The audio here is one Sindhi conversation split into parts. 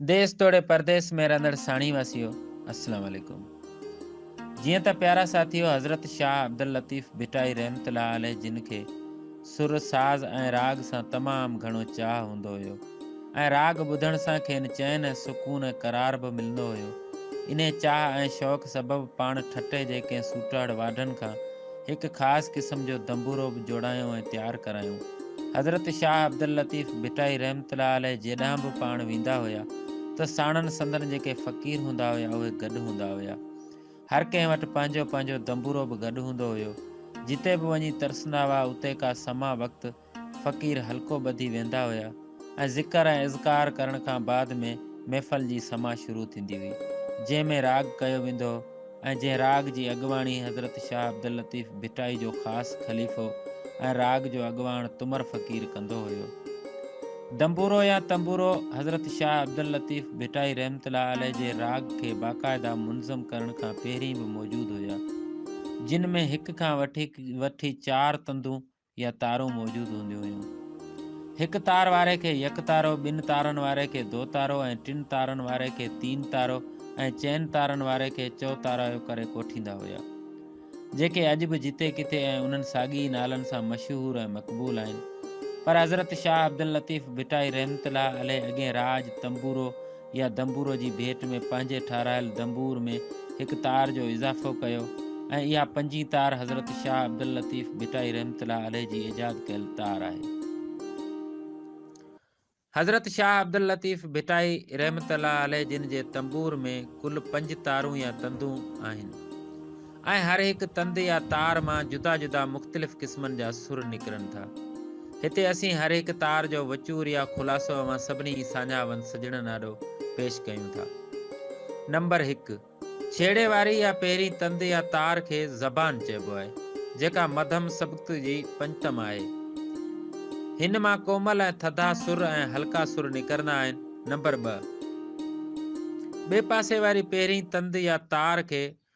ديس توڙي پرديس ۾ رهندڙ ساڻيهه واسيو السلام عليڪم جيئن ته پيارا ساٿيو حضرت شاهه عبداللطيف ڀٽائي رحمت الله عليه جن کي سر ساز ۽ راڳ سان تمام گهڻو چاهه هوندو هيو ۽ راڳ ٻڌڻ سان کين چين ۽ سڪون ۽ قرار به ملندو هيو انهي چاهه ۽ شوق سبب پاڻ ٺٽي جي ڪنهن سوٽهڙ واڍن کان هڪ خاص قسم جو دنبورو به جوڙايو ۽ تيار ڪرايون. حضرت شاهه عبداللطيف ڀٽائي رحمة الله عليه جيڏانهن به پاڻ ويندا هيا ته ساڻن سندن جيڪي فقير هوندا هيا اهي گڏ هوندا هيا. هر ڪنهن وٽ پنهنجو پنهنجو دنبورو به گڏ هوندو هيو. جتي به وڃي ترسندا هئا اتي ڪا سماء وقت فقير حلقو ٻڌي ويندا هيا ۽ ذڪر ۽ اذڪار ڪرڻ کان بعد ۾ محفل جي سماع شروع ٿيندي هئي جنهن ۾ راڳ ڪيو ويندو هو ۽ جنهن راڳ جي اڳواڻي حضرت شاهه عبداللطيف ڀٽائي جو خاص خليفو ۽ راڳ جو اڳواڻ تمر فقير ڪندو هيو دنبورو يا تنبورو حضرت شاهه عبداللطيف ڀٽائي رحمت الله عليه جي راڳ کي باقاعده منظم ڪرڻ کان پهرين به موجود هيا جن ۾ هڪ کان وٺي چار تندون يا تارون موجود هونديون هيون. هڪ تار واري کي يڪ تارو، ٻن تارن واري کي دو تارو ۽ ٽن تارن واري کي تين تارو ۽ چئن تارن واري کي چؤ تارايو ڪري ڪوٺيندا هيا. جيڪي اڄ به جتي ڪٿي ۽ انهن ساڳي ئي نالن سان مشهور ۽ مقبول آهن. پر حضرت شاهه عبداللطيف ڀٽائي رحمة الله عليه اڳين راڄ، تنبورو، يا دنبورو جي ڀيٽ ۾ پنهنجي ٺاهرايل دنبور ۾ هڪ تار جو اضافو ڪيو ۽ اها پنجين تار حضرت شاهه عبداللطيف ڀٽائي رحمة الله عليه جي ايجاد ڪيل تار آهي. حضرت شاهه عبداللطيف ڀٽائي رحمة الله عليه جن جي تنبور ۾ ڪل پنج تارون يا تندون آهن. ۽ هر هڪ تند يا تار مان جدا جدا مختلف قسمن جا سر نڪرن ٿا. هتي اسين هر هڪ تار جو وچور يا خلاصو اوهان سڀني ئي ساڃاهه وند سڄڻن آڏو پيش ڪيون ٿا. نمبر هڪ، ڇيڙي واري يا پهرين تند يا تار کي زبان چئبو آهي، جيڪا مڌم سبڪت جي پنجتم آهي. هن مان ڪومل ۽ ٿڌا سر ۽ هلڪا سر نڪرندا آهن. نمبر ٻه، ٻئي پاسي واري پهرين تند يا تار کي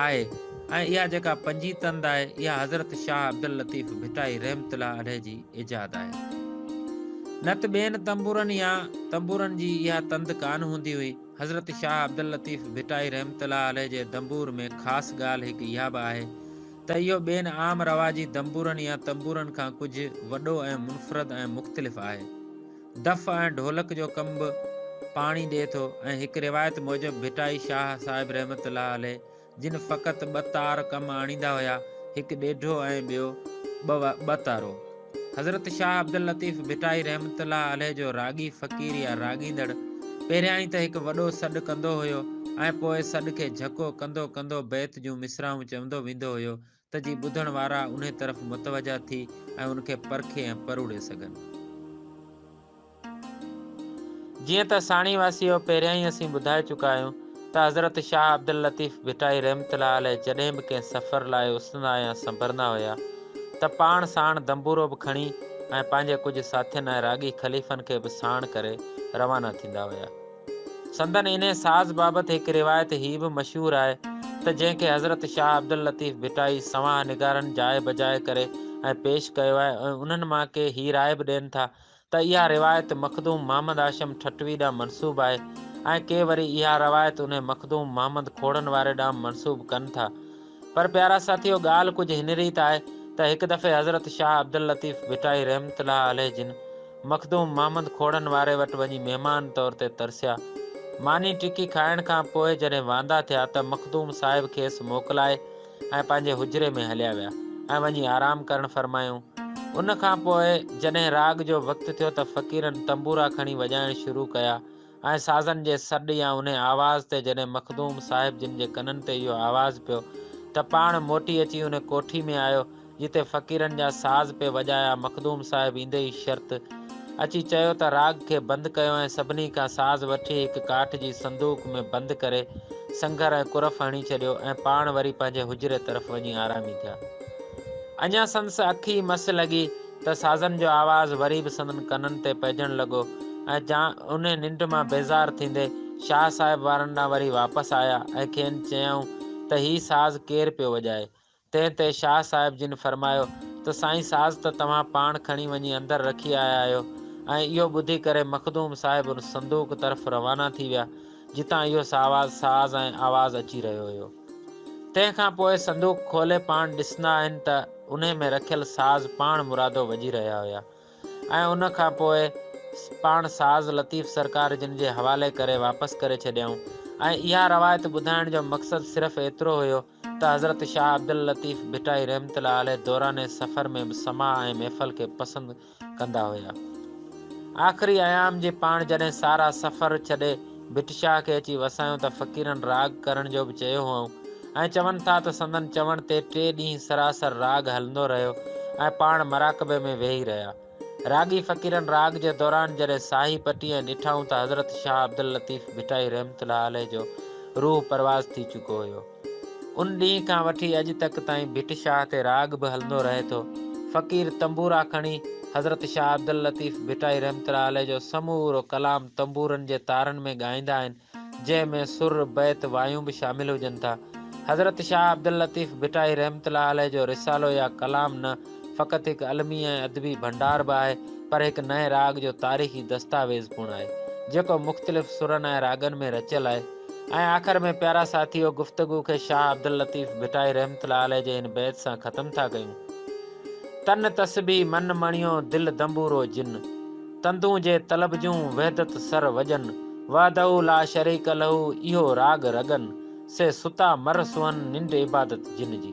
آهي ۽ اها جيڪا پنجين تند آهي اها حضرت شاهه عبداللطيف ڀٽائي رحمت الله عليه جي ايجاد آهي. نه ته ٻين تنبورن يا تنبورن جي اها تند ڪانه هوندي هئي. حضرت شاهه عبداللطيف ڀٽائي رحمت الله عليه جي دنبور ۾ خاص ڳالهه هڪ اها به آهي ته اهو ٻين عام رواجي دنبورن يا تنبورن کان ڪجهه وڏو ۽ منفرد ۽ مختلف آهي. دف ۽ ڍولڪ جو ڪم به پاڻي ڏئي ٿو ۽ هڪ روايت موجب ڀٽائي شاهه صاحب رحمة الله عليه جن فقط ٻه تار ڪم آڻيندا هيا، هڪ ڏيڍو ۽ ٻيو ٻه تارو. حضرت شاهه عبداللطيف ڀٽائي رحمة الله عليه جو راڳي فقير يا راڳيندڙ پهريائين ته هڪ وڏو سڏ ڪندو هيو ۽ پوء سڏ کي جهڪو ڪندو ڪندو بيت جون مصراعون چوندو ويندو هيو ته جي ٻڌڻ وارا انهي طرف متوجهه ٿي ۽ ان کي پرکي ۽ پروڙي سگهن. جيئن ته ساڻي واسيو پهريان ئي اسين ٻڌائي چڪا آهيون ته حضرت شاهه عبداللطيف ڀٽائي رحمة الله عليه جڏهن به ڪنهن سفر لاء اسندا يا سنڀرندا هيا ته پاڻ ساڻ دنبورو به کڻي ۽ پنهنجي ڪجهه ساٿين ۽ راڳي خليفن کي به ساڻ ڪري روانا ٿيندا هيا. سندن انهيء ساز بابت هڪ روايت هيء به مشهور آهي ته جنهن کي حضرت شاهه عبداللطيف ڀٽائي سوانح نگارن جاء بجاء ڪري ۽ پيش ڪيو آهي ۽ انهن مان ڪي هيء راء به ڏين ٿا ته اها روايت مخدوم محمد هاشم ٺٽوي ڏانهن منسوب آهي ۽ ڪي وري اها روايت انهي مخدوم محمد کوڙن واري ڏانهن منسوب ڪن ٿا. پر پيارا ساٿيو ڳالهه ڪجهه هن ريت آهي ته هڪ دفعي حضرت شاهه عبداللطيف ڀٽائي رحمة الله عليه جن مخدوم محمد کوڙن واري وٽ وڃي مهمان طور تي ترسيا. ماني ٽڪي کائڻ کان پوء جڏهن واندا ٿيا ته مخدوم صاحب کيس موڪلائي ۽ پنهنجي حجري ۾ هليا ويا ۽ وڃي آرام ڪرڻ فرمايائون. ان کان پوء جڏهن راڳ جو وقت ٿيو ته فقيرن تنبورا کڻي وڄائڻ شروع ڪيا ۽ سازن جي سڏ يا انهي آواز تي جڏهن مخدوم صاحب جن جي ڪنن تي اهو آواز پيو ته پاڻ موٽي اچي انهي ڪوٺي ۾ آيو جتي فقيرن جا ساز پئي وڄايا مخدوم صاحب ايندي ئي شرط اچي چيو ته راڳ کي بند ڪيو ۽ سڀني کان ساز وٺي هڪ ڪاٺ جي صندوق ۾ بند ڪري سنگهر ۽ قرف هڻي ڇڏيو ۽ پاڻ وري پنهنجي حجري طرف وڃي آرامي ٿيا اڃا سندس اک ئي مس لڳي ته سازن جو آواز وري به سندن ڪنن تي پئجڻ لڳو ۽ جا انهي ننڊ مان بيزار ٿيندي شاهه صاحب وارن ڏانهن وري واپس آيا ۽ کين چيائون ته هي ساز ڪير پيو وڄائي؟ تنهن تي شاهه صاحب جن فرمايو ته سائين ساز ته توهان پاڻ کڻي وڃي اندر رکي آيا آهيو ۽ اهو ٻڌي ڪري مخدوم صاحب ان صندوق طرف روانا ٿي ويا جتان اهو ساواز ساز ۽ آواز اچي رهيو هيو. تنهن کان پوء صندوق کولي پاڻ ڏسندا آهن ته انهي ۾ رکيل ساز پاڻ مرادو وڄي رهيا هيا ۽ ان کان پوء پاڻ ساز لطيف سرڪار جن جي حوالي ڪري واپس ڪري ڇڏيائون ۽ اها روايت ٻڌائڻ جو مقصد صرف ايترو هيو ته حضرت شاهه عبداللطيف ڀٽائي رحمة الله عليه دوران سفر ۾ به سماع ۽ محفل کي پسند ڪندا هيا. آخري ايام جي پاڻ جڏهن سارا سفر ڇڏي ڀٽ شاهه کي اچي وسايون ته فقيرن راڳ ڪرڻ جو به چيو هئائون ۽ چون ٿا ته سندن چوڻ تي ٽي ڏينهن سراسر راڳ هلندو رهيو ۽ پاڻ مراقبي ۾ ويهي رهيا. راڳي فقيرن راڳ جي دوران جڏهن ساهي پٽي ۽ ڏٺائون ته حضرت شاهه عبداللطيف ڀٽائي رحمة الله عليه جو روح پرواز ٿي چڪو هيو. ان ڏينهن کان وٺي اڄ تڪ تائين ڀٽ شاهه تي راڳ به هلندو رهي ٿو. فقير تنبورا کڻي حضرت شاهه عبداللطيف ڀٽائي رحمت الله عليه جو سمورو ڪلام تنبورن جي تارن ۾ ڳائيندا آهن، جنهن ۾ سر، بيت، وايون به شامل هجن ٿا. حضرت شاهه عبداللطيف ڀٽائي رحمت الله عليه جو رسالو يا ڪلام نه فقط هڪ علمي ۽ ادبي ڀنڊار به آهي، پر هڪ نئين راڳ جو تاريخي دستاويز پڻ آهي، جيڪو مختلف سرن ۽ راڳن ۾ رچيل آهي. ۽ آخر ۾ پيارا ساٿيو گفتگو کي شاهه عبداللطيف ڀٽائي رحمة الله عليه جي هن بيت سان ختم ٿا ڪيون. تن تسبيح من مڻيو دل دنبورو جن. تندون جي طلب جون وحدت سر وڄن. وحده لا شريڪ له اهو راڳ رڳن. سي ستا مر سونهن ننڊ عبادت جن جي.